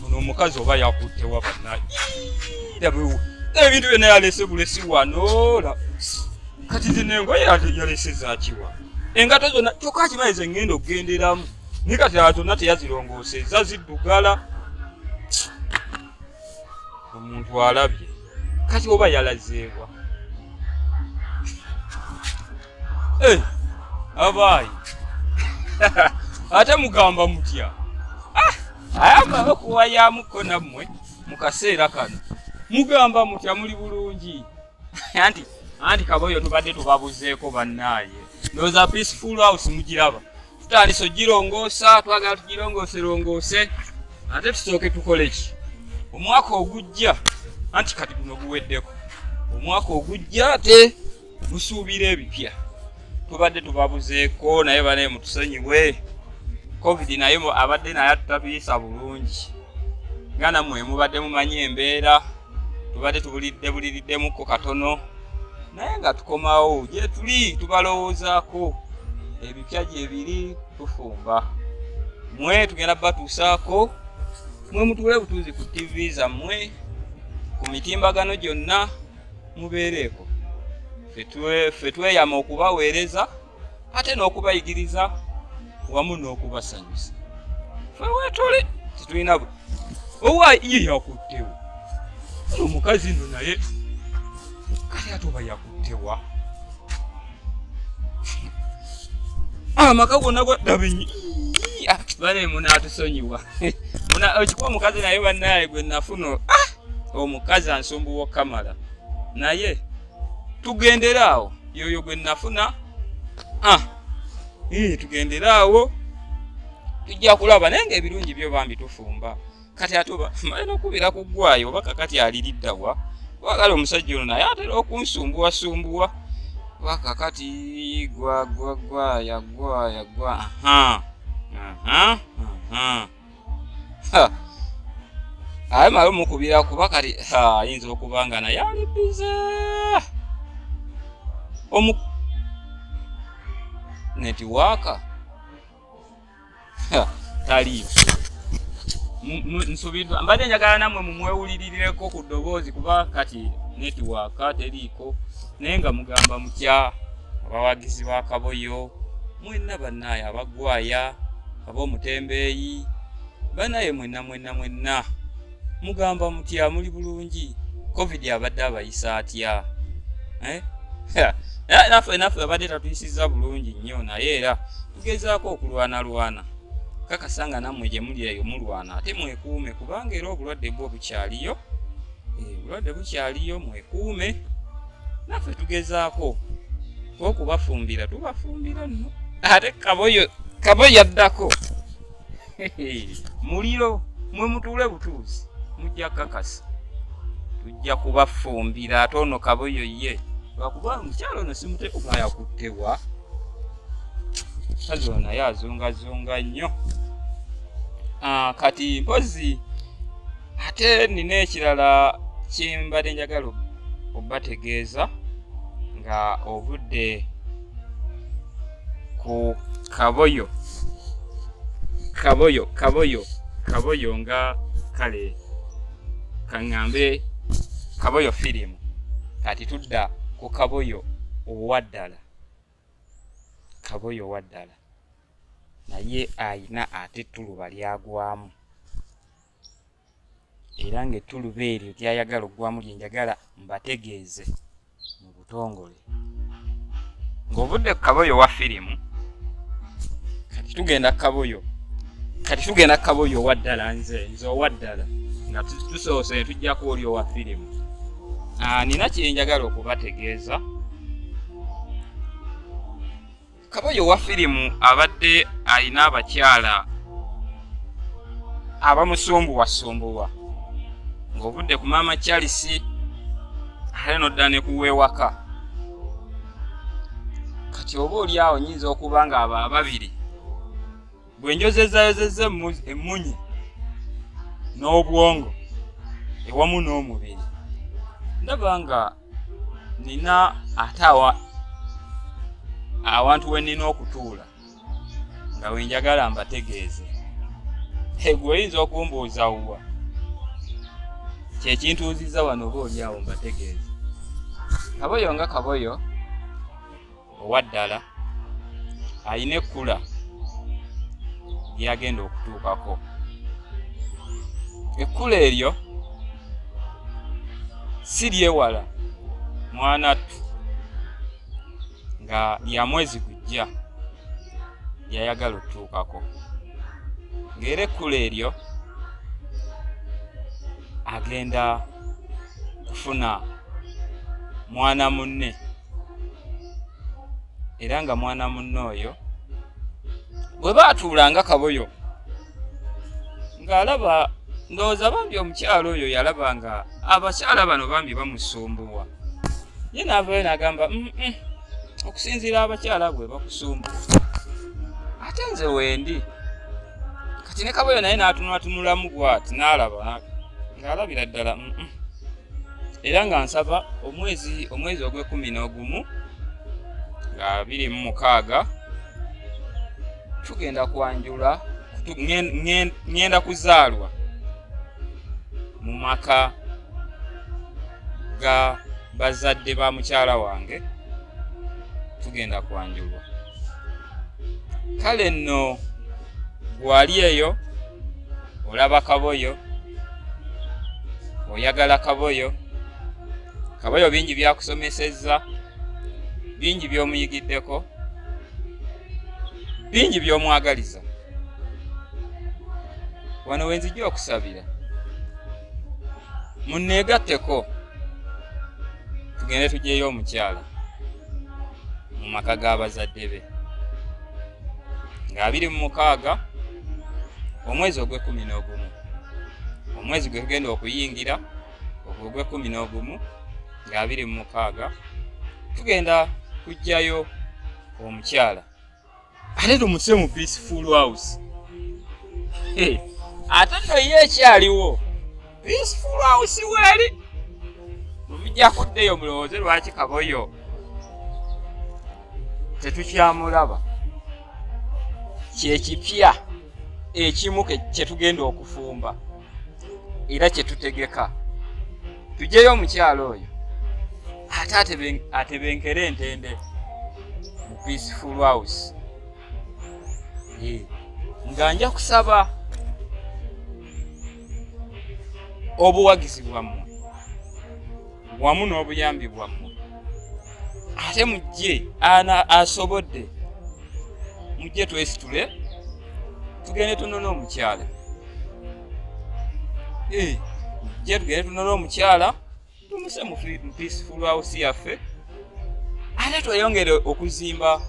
ono omukazi oba yakutte wa banaye ebintu byona yalese bulesi wanola kati zino engoye yalese zakiwa engato zona kyoka akimanyi ze ngenda okugenderamu naye kati zona teyazirongoseza ziddugala omuntu alabye kati oba yalazeebwa eh, abaayi ate mugamba mutya ah, ayagala okuwayamuko nammwe mu kaseera kano mugamba mutya muli bulungi anti anti kaboyo tubadde tubabuzeeko bannaaye ndoza peaceful house mugiraba tutandise ogirongoosa twagala tugirongoose rongoose ate tusooke tukole ki omwaka ogujja anti kati guno guweddeko omwaka ogujja ate gusuubira ebipya tubadde tubabuzeeko naye banaye mutusonyiwe covid naye abadde naye atutatuyisa bulungi nga nammwe mubadde mumanyi embeera tubadde tubulidde buliriddemukko katono naye nga tukomawo gyetuli tubalowoozaako ebipya gyebiri tufumba mwe tugenda batuusaako mwe mutuule butuuzi ku tv zammwe ku mitimbagano gyonna mubeereeko ffe tweyama okubaweereza ate n'okubayigiriza wamu n'okubasanyusa fewetole tetulina bwe owa iye yakuttewo no omukazi no naye kale ate oba yakuttewa amaka gonna gwadabinyi bane munatusonyiwa okikuba omukazi naye banaye gwe nafuno ah! omukazi ansumbuwa okamala naye tugendere awo yoyo gwe nafuna ah, eh, tugendere awo tujja kulaba naye nga ebirungi byo bambi tufumba kati ate obaye nokubira ku ggwayo oba kakati aliriddawa wagala omusajja ono naye atera okunsumbuwasumbuwa oba kakati gwagwagwayagwayagwa aha aha aha aye mala omukubira kuba kati ayinza okuba nga naye ali bize omu netiwaaka taliyo nsubiddwa mbadde njagala namwe mumwewulirireko ku ddoboozi kuba kati netiwaaka teriiko naye nga mugamba mutya abawagizi ba kaboyo mwenna bannaye abagwaya ab'omutembeeyi banaye mwenna mwenna mwenna mugamba mutya muli bulungi covid abadde abayisa atya eh? naffe naffe abadde tatuyisiza bulungi nnyo naye era tugezaako okulwanalwana kakasa nga nammwe gye muli eyo mulwana ate mwekuume kubanga era obulwadde bwo bukyaliyo obulwadde bukyaliyo mwekuume naffe tugezaako okubafumbira tubafumbira nno ate kaboyo kaboyo yaddako muliro mwe mutuule butuuzi mujja kakasa tujja kubafumbira ate ono kaboyo ye lwakuba omukyalo ono simuteeka yakuttewa kazi ono naye azungazunga nnyo ah, kati mpozi ate nina ekirala kyembadde njagala obategeeza nga ovudde ku kaboyo kaboyo kaboyo kaboyo nga kale kaŋŋambe kaboyo firimu kati tudda ku kaboyo owa ddala kaboyo owa ddala naye ayina ate tuluba lyagwamu era ng'ettuluba eryo ly'ayagala okugwamu lye njagala mbategeeze mu butongole ng'ovudde ku kaboyo wa firimu kati tugenda ku kaboyo kati tugenda ku kaboyo owa ddala nze nze owa ddala nga tusoose ne tujjako oli owa firimu ah, nina kye njagala okubategeeza kaboyo wa firimu abadde alina abakyala abamusumbuwasumbuwa ng'ovudde ku maama charles ate nodda ne kuweewaka kati oba oli awo nyinza okuba nga abo ababiri bwe njozezayozeza emmunyi n'obwongo ewamu n'omubiri ndaba nga nina ate awa awantu we nina okutuula nga wenjagala mbategeeze egwe oyinza okumbuuza wuwa kyekintuuziza wano oba olyawo mbategeeze kaboyo nga kaboyo owa ddala alina ekkula lyagenda okutuukako ekkula eryo si lyewala mwanattu nga lya mwezi gujja lyayagala okutuukako ng'era ekkula eryo agenda kufuna mwana munne era nga mwana munne oyo bwe baatuula nga kaboyo ng'alaba ndowooza bambi omukyalo oyo yalaba nga abakyala bano bambi bamusumbuwa ye naavayo nagamba okusinziira abakyala bwe bakusumbuwa ate nze wendi kati ne kaboyo naye n'atunulatunulamu bwati n'alaba ng'alabira ddala era nga nsaba omwezi omwezi ogw'ekumi n'ogumu nga biri mu mukaaga tugenda kwanjula ŋŋenda kuzaalwa mu maka ga bazadde ba mukyala wange tugenda kwanjulwa kale nno wali eyo olaba kaboyo oyagala kaboyo kaboyo bingi byakusomesezza bingi byomuyigiddeko bingi byomwagaliza wano wenzija okusabira muneegatteko tugende tugyeyo omukyala mu maka ga bazadde be nga abiri mu mukaaga omwezi ogw'ekkumi n'ogumu omwezi gwe tugenda okuyingira ogwo ogw'ekkumi n'ogumu nga abiri mu mukaaga tugenda kujjayo omukyala ate tumutuse mu peaceful house eh, ate no ye ekyaliwo peaceful house weeri mumijja kuddeyo mulowooze lwaki kaboyo tetukyamulaba kyekipya ekimu kyetugenda okufumba era kyetutegeka tujeyo omukyalo oyo ate atebenkere entende mu peaceful house nga nja kusaba obuwagizi bwammwe wamu n'obuyambi bwammwe ate mujje ana asobodde mujje twesitule tugende tunona omukyala eh, jetugere tunole omukyala tumuse mu peaceful house yaffe ate tweyongere okuzimba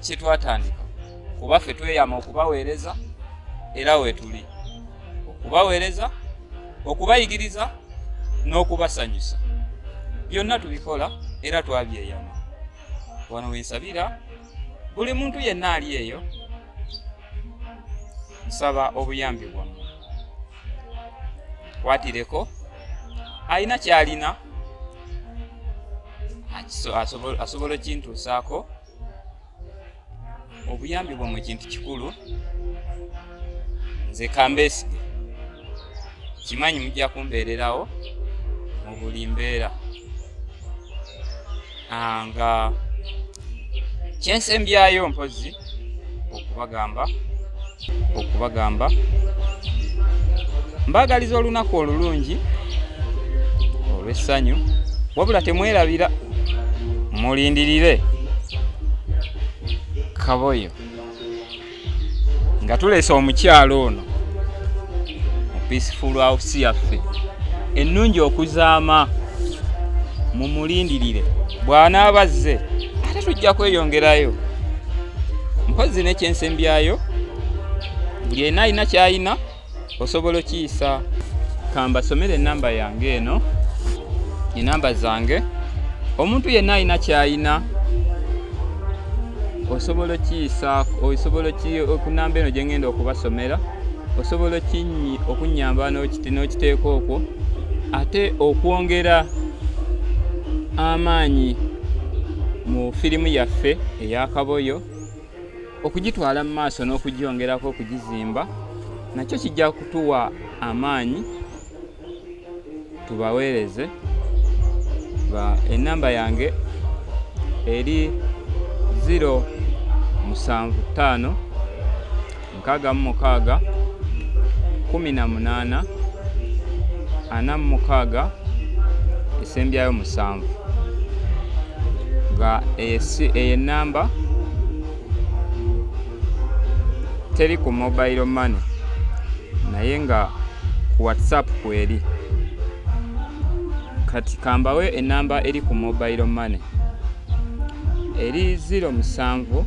kyetwatandika kuba ffe tweyama okubaweereza era wetuli okubaweereza okubayigiriza n'okubasanyusa byonna tubikola era twabyeyama wano wensabira buli muntu yenna ali eyo nsaba obuyambi bwammwe kwatireko alina kyalina asobola okintuusaako obuyambi bwammwe kintu kikulu nze kambeesige kimanyi mujja kumbeererawo mu buli mbeera ah, nga kyensembyayo mpozi okubagamba okubagamba mbaagaliza olunaku olulungi olw'essanyu wabula temwerabira mulindirire kaboyo nga tuleese omukyalo ono mu peaceful house yaffe ennungi okuzaama mumulindirire bw'anaaba azze ate tujja kweyongerayo mpozi nekyensembyayo buli ena alina kyalina osobola okiyisa kambasomere enamba yange eno enamba zange omuntu yenna alina kyayina osobola okiyisa osobola okunamba eno gyengenda okubasomera osobola okinyi okunyamba n'okiteeka okwo ate okwongera amaanyi mu firimu yaffe eyakaboyo okugitwala mu maaso n'okugyongerako okugizimba nakyo kijja kutuwa amaanyi tubaweereze enamba yange eri 0 musanvu ttaano nkaaga mu mukaaga kumi na munaana ana mu mukaaga esembyayo musanvu nga eyo enamba teri ku mobile money naye nga ku whatsapp kweri kati kambawe enamba eri ku mobile money eri ziro musanvu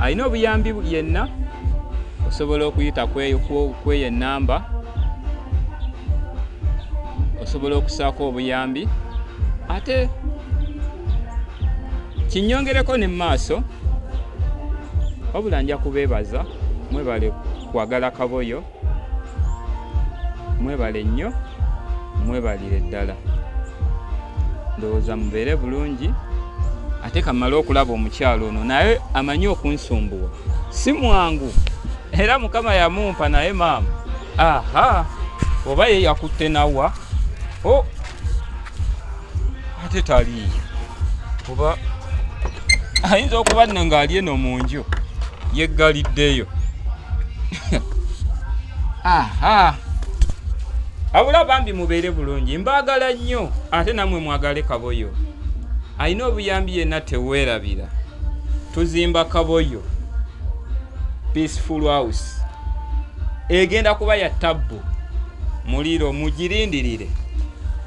alina obuyambi yenna osobola okuyita kweyo enamba osobola okusaako obuyambi ate kinyongereko ne mumaaso wabula nja kubeebaza mwebale kwagala kaboyo mwebale nnyo mwebalire ddala ndowooza mubeere bulungi ate kamale okulaba omukyalo ono naye amanyi okunsumbuwa si mwangu era mukama yamumpa naye maama aha oba ye yakutte nawa o oh. ate taliiyo kuba ayinza okuba nno ng'ali eno mu nju yeggaliddeyo aha abula bambi mubeere bulungi mbaagala nnyo ate namwe mwagale kaboyo alina obuyambi yenna teweerabira tuzimba kaboyo peaceful house egenda kuba ya tabbu muliro mugirindirire